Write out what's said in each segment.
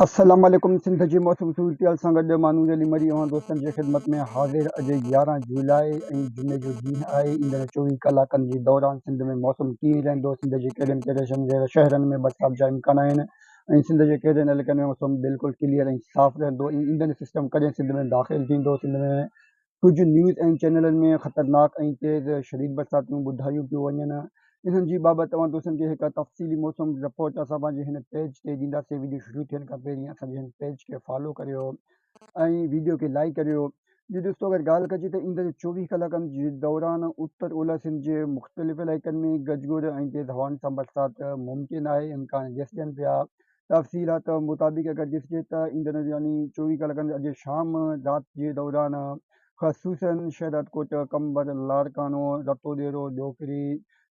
اسلام عليڪم سنڌ جي موسمي صورتحال سان گڏ مانوز علي مري اوهان دوستن جي خدمت ۾ حاضر اڄ يارهن جولاء ۽ جمعي جو ڏينهن آهي ايندڙ چوويهه ڪلاڪن جي دوران سنڌ ۾ موسم ڪيئن رهندو سنڌ جي ڪهڙين ڪهڙين شهرن ۾ برسات جا امڪان آهن ۽ سنڌ جي ڪهڙين علائقن ۾ موسم بلڪل ڪليئر ۽ صاف رهندو ۽ ايندڙ سسٽم ڪڏهن سنڌ ۾ داخل ٿيندو سنڌ ۾ ڪجهه نيوز ۽ چينلن ۾ خطرناڪ ۽ تيز شديد برساتون ٻڌايون پيون وڃن انهن جي بابت اوهان دوستن کي هڪ تفصيلي موسم رپورٽ اسان پنهنجي هن پيج تي ڏينداسين ويڊيو شروع ٿيڻ کان پهرين اسان جي هن پيج کي فالو ڪريو ۽ ويڊيو کي لائيڪ ڪريو جي دوستو اگر ڳالهه ڪجي ته ايندڙ چوويهه ڪلاڪن جي دوران اتر اولهه سنڌ جي مختلف علائقن ۾ گجگوڙ ۽ تيز هوائن سان برسات ممڪن آهي امڪان گس ڏين پيا تفصيلات مطابق اگر ڏسجي ته ايندڙ يعني چوويهه ڪلاڪن اڄ شام رات جي دوران خصوصاً شهدادڪوٽ، قمبر، لاڙڪاڻو، رتوديرو، ڏوڪري،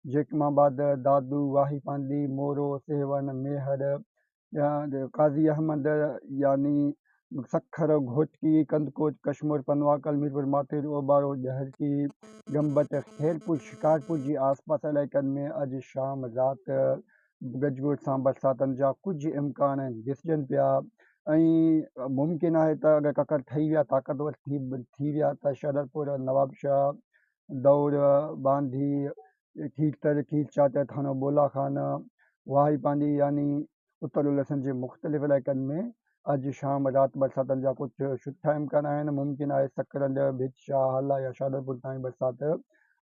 جيڪم آباد، دادو، واهي پانڌي، مورو، سيوهڻ، ميهڙ، قاضي احمد يعني سکر، گهوٽڪي، ڪنڌڪوٽ، ڪشمور، پنواڪل، ميرپور ماٿير، اوٻارو، ڏهرڪي، گمبٽ، خيرپور، شڪارپور جي آسپاس علائقن ۾ اڄ شام رات گج ٻوج سان برساتن جا ڪجهه امڪان ڏسجن پيا ۽ ممڪن آهي ته اگر ڪڪر ٺهي ويا طاقتور ٿي ويا ته شهدرپور، نوابشاهه، دؤر، باندي، کيرٿر، کير چاچڙ، ٿانو بولا خان، واهي پانڊي يعني اتر الحسن جي مختلف علائقن ۾ اڄ شام رات برساتن جا ڪجهه سٺا امڪان آهن، ممڪن آهي سڪرنڊ، ڀت، شاهه حل يا شادرپور تائين برسات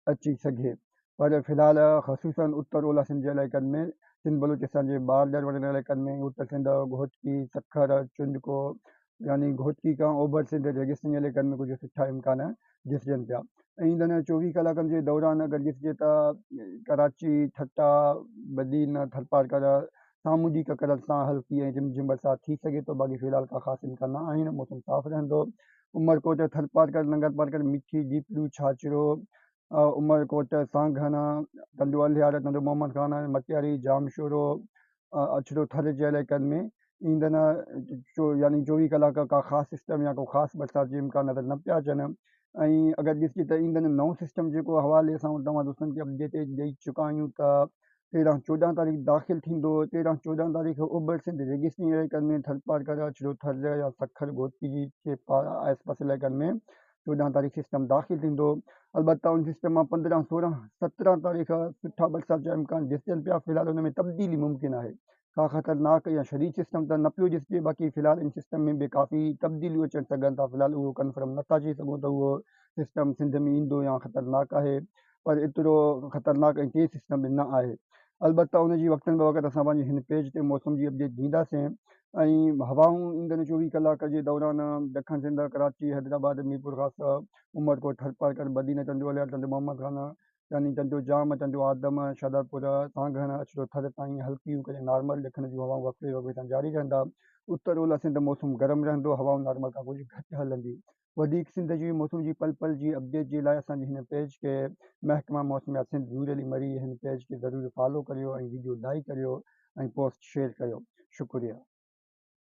اچي سگهي پر في الحال خصوصا اتر اولهه سنڌ جي علائقن ۾ سنڌ بلوچستان جي بارڊر وارن علائقن ۾ اتر سنڌ، گهوٽڪي، سکر، چنڊڪو يعني گهوٽڪي کان اوڀر سنڌ ريگستاني علائقن ۾ ڪجهه سٺا امڪان ڏسجن پيا ۽ ان چوويهه ڪلاڪن جي دوران اگر ڏسجي ته ڪراچي، ٺٽا، بدين، ٿرپارڪر سامونڊي ڪڪر سان هلڪي ۽ رم جھم برسات ٿي سگهي ٿو باقي في الحال ڪا خاص امڪان نه آهن موسم صاف رهندو عمرڪوٽ، ٿرپارڪر، ننگرپارڪر، مٺي، جيپلو، ڇاڇرو، عمرڪوٽ، سانگهڙ، ٽنڊو الهيار، ٽنڊو محمد خان، مٽياري، ڄامشورو، اڇڙو ٿر جي علائقن ۾ ايندڙ يعني چوويهه ڪلاڪ ڪا خاص سسٽم يا ڪو خاص برسات جي امڪان نظر نه پيا اچن ۽ اگر ڏسجي ته ايندڙ نئون سسٽم جيڪو حوالي اسان توهان دوستن کي اپڊيٽ ڏئي چڪا آهيون ته تيرهن چوڏهن تاريخ داخل ٿيندو تيرهن چوڏهن تاريخ اوڀر سنڌ ريگستاني علائقن ۾ ٿرپارڪر اڇڙو ٿر يا سکر گوتي جي پار آس پاس علائقن ۾ چوڏهن تاريخ سسٽم داخل ٿيندو البته ان سسٽم مان پندرهن سورهن سترهن تاريخ سٺا برسات جا امڪان ڏسجن پيا في الحال ان ۾ تبديلي ممڪن آهي ڪا خطرناڪ يا شديد سسٽم ته نه پيو ڏسجي باقي في الحال ان سسٽم ۾ به ڪافي تبديليون اچڻ سگهن ٿا في الحال اهو ڪنفرم نٿا چئي سگهون ته اهو سسٽم سنڌ ۾ ايندو يا خطرناڪ آهي پر ايترو خطرناڪ ۽ تيز سسٽم به نه آهي. البته ان جي وقتن بوقت اسان پنهنجي هن پيج تي موسم جي اپڊيٽ ڏينداسين ۽ هوائون ايندڙ چوويهه ڪلاڪ جي دوران دکڻ سنڌ، ڪراچي، حيدرآباد، ميرپور خاصه، عمرڪوٽ، ٿرپارڪر، بدين، چنڊو الهيار، چنڊو محمد خان، يعني چنڊو جام، چنڊو آدم، شهدادپور، سانگهڙ، اڇڙو ٿر تائين هلڪيون ڪڏهن نارمل ڏکڻ جون هوائون وقفي وقفي سان جاري رهندا. اتر اولهه سنڌ موسم گرم رهندو، هوائون نارمل کان ڪجهه گهٽ هلنديون. وڌيڪ سنڌ جي موسم جي پل پل جي اپڊيٽ جي لاء اسان جي هن پيج کي محڪمه موسميات سنڌ زوري علي مري هن پيج کي ضرور فالو ڪريو ۽ وڊيو لائيڪ ڪريو ۽ پوسٽ شيئر ڪريو شڪريا.